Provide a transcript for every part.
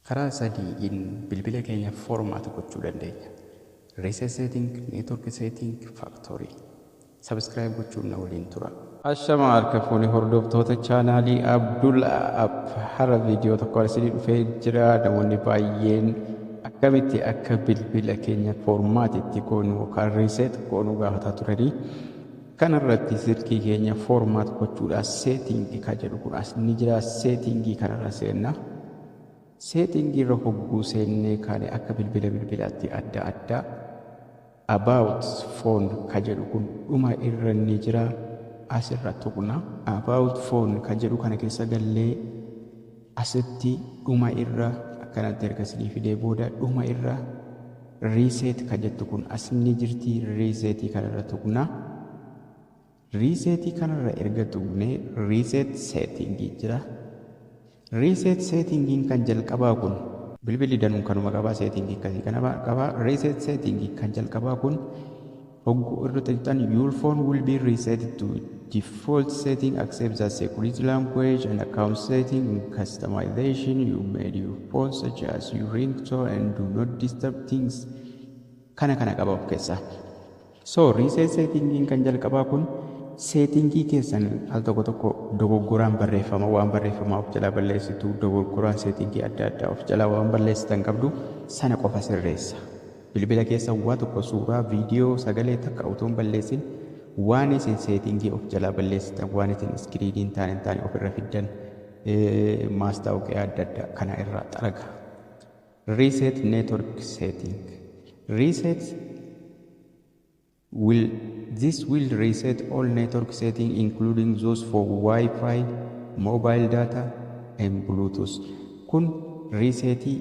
Karaa sadiin bilbila keenya format gochuu dandeenya. Reset setting, network setting, factory. Subscribe gochuun na waliin tura. Ashama harka fuune hordoftoota chaanaalii Abdul App har'a viidiyoo tokko isinii dhufee jira namoonni baay'een akkamitti akka bilbila keenya foormaati itti goonu yookaan riiseet goonu gaafataa turanii kanarratti silkii keenya foormaat gochuudhaaf seetiingii kan jedhu kun as ni jira seetiingii kanarra seenna. Setting irra hogguu seennee kaane akka bilbila bilbilaatti adda adda. About phone ka jedhu kun dhuma irra ni jira. As irra tuqna. About phone ka jedhu kana keessa gallee asitti dhuma irra akkanatti erga isinii fidee booda dhuma irra reset ka jettu kun as ni jirti. Reset kana irra tuqna. Reset kanarra erga tuqnee Reset Setting jira. Reset Setting kan jalqabaa kun. Bilbilli danuun kanuma qabaa setting akkasii kana qabaa reset setting kan jalqabaa kun hogguu irra tuqxan your phone will be reset to default setting accept the security language and account setting and customization you made your phone such as your ringtone and do not disturb things kana kana qaba of keessaa. So reset settingin kan jalqabaa kun seetingii keessan al tokko tokko dogoggoraan barreeffama waan barreeffamaa of jalaa balleessitu dogoggoraan seetingii adda addaa of jalaa waan balleessitan qabdu sana qofa sirreessa. Bilbila keessa waa tokko suuraa, viidiyoo, sagalee takka utuu hin balleessin waan isin seetingii of jalaa balleessitan waan isin iskiriiniin taane hin taane ofirra fiddan maastaawoqiyaa adda addaa kana irraa xaraga. Reset network setting reset will this will reset all network setting including those for wifi mobile data and bluetooth kun riiseetii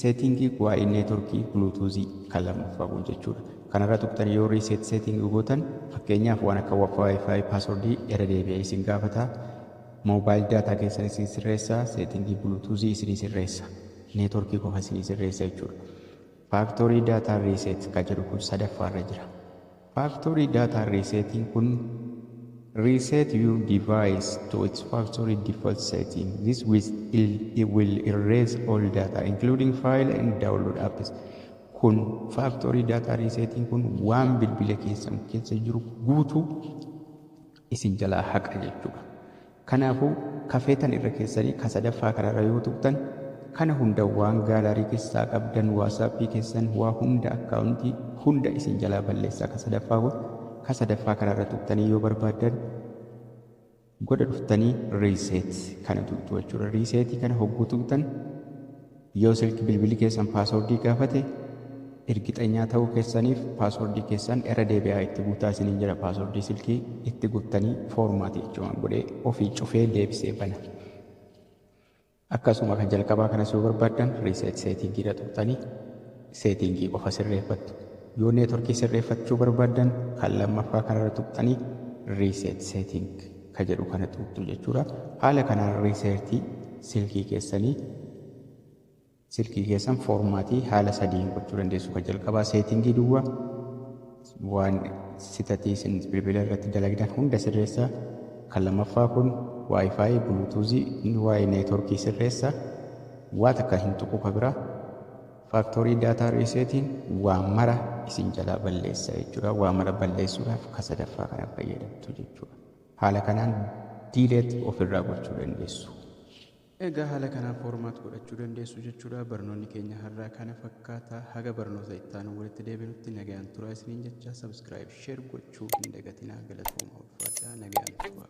seetingii waa'ee neetworkii bluetoothii kan lammaffaa kun jechuudha kanarra tuqxan yoo riiseet seeting gootan fakkeenyaaf waan akka wifi paaswordii irra deebi'ee isin gaafata mobile data keessan isin sirreessa seetingii bluetoothii isin sirreessa Network qofa sii sirreessa jechuudha. Factory data reset ka jedhu kun sadaffaa irra jira. Factory data resetting kun reset your device to its factory default setting. This will erase all data including file and download apps. Kun factory data resetting kun waan bilbila keessan keessa jiru guutuu isin jalaa haqa jechuudha. Kanaafuu ka feetan irra keessanii ka sadaffaa kanarra yoo tuqxan kana hunda waan gaalarii keessaa qabdan waasaappii keessan waa hunda akkaawuntii hunda isin jalaa balleessaa ka sadaffaa kun ka sadaffaa kanarra tuqxanii yoo barbaaddan godha dhuftanii riiseet kana tuqxu jechuudha. Riiseetii kana hogguu tuqxan Yoo silki bilbili keessan paaswordii gaafate irgixanyaa ta'uu keessaniif paaswordii keessan irra deebi'aa itti guutaa isiniin jira paaswordii silkii itti guuttanii foormaatii jechuun godhee ofii cufee deebisee bana. Akkasuma kan jalqabaa kanas yoo barbaaddan riiseet seetiingiidha tuqxanii seetiingii qofa sirreeffattu. Yoo neetworkii sirreeffachuu barbaaddan kan lammaffaa kanarra tuqxanii riiseet seetiing. ka jedhu kana tuqxu jechuudha. Haala kanaan research silkii keessanii silkii keessan foormaatii haala sadiin gochuu dandeessu. Ka jalqabaa seetingii duwwa waan sitatii isin bilbila irratti dalagdan hunda sirreessa. Kan lammaffaa kun waayifaayi buluutuuzii inni waa'ee neetworkii sirreessa. Waa takka hin tuqu ka biraa. Factory data resetting waa mara isin jalaa balleessa jechuudha. Waa mara balleessuudhaaf ka sadaffaa kana fayyadamtu jechuudha. Haala kanaan delete ofirraa gochuu dandeessu. Egaa haala kanaan format godhachuu dandeessu jechuudha. Barnoonni keenya har'aa kana fakkaata. Haga barnoota itti aanu walitti deebinutti nagayaan turaa isiniin jecha subscribe share gochuu hin dagatinaa galatooma ulfaadhaa nagayaan turaa.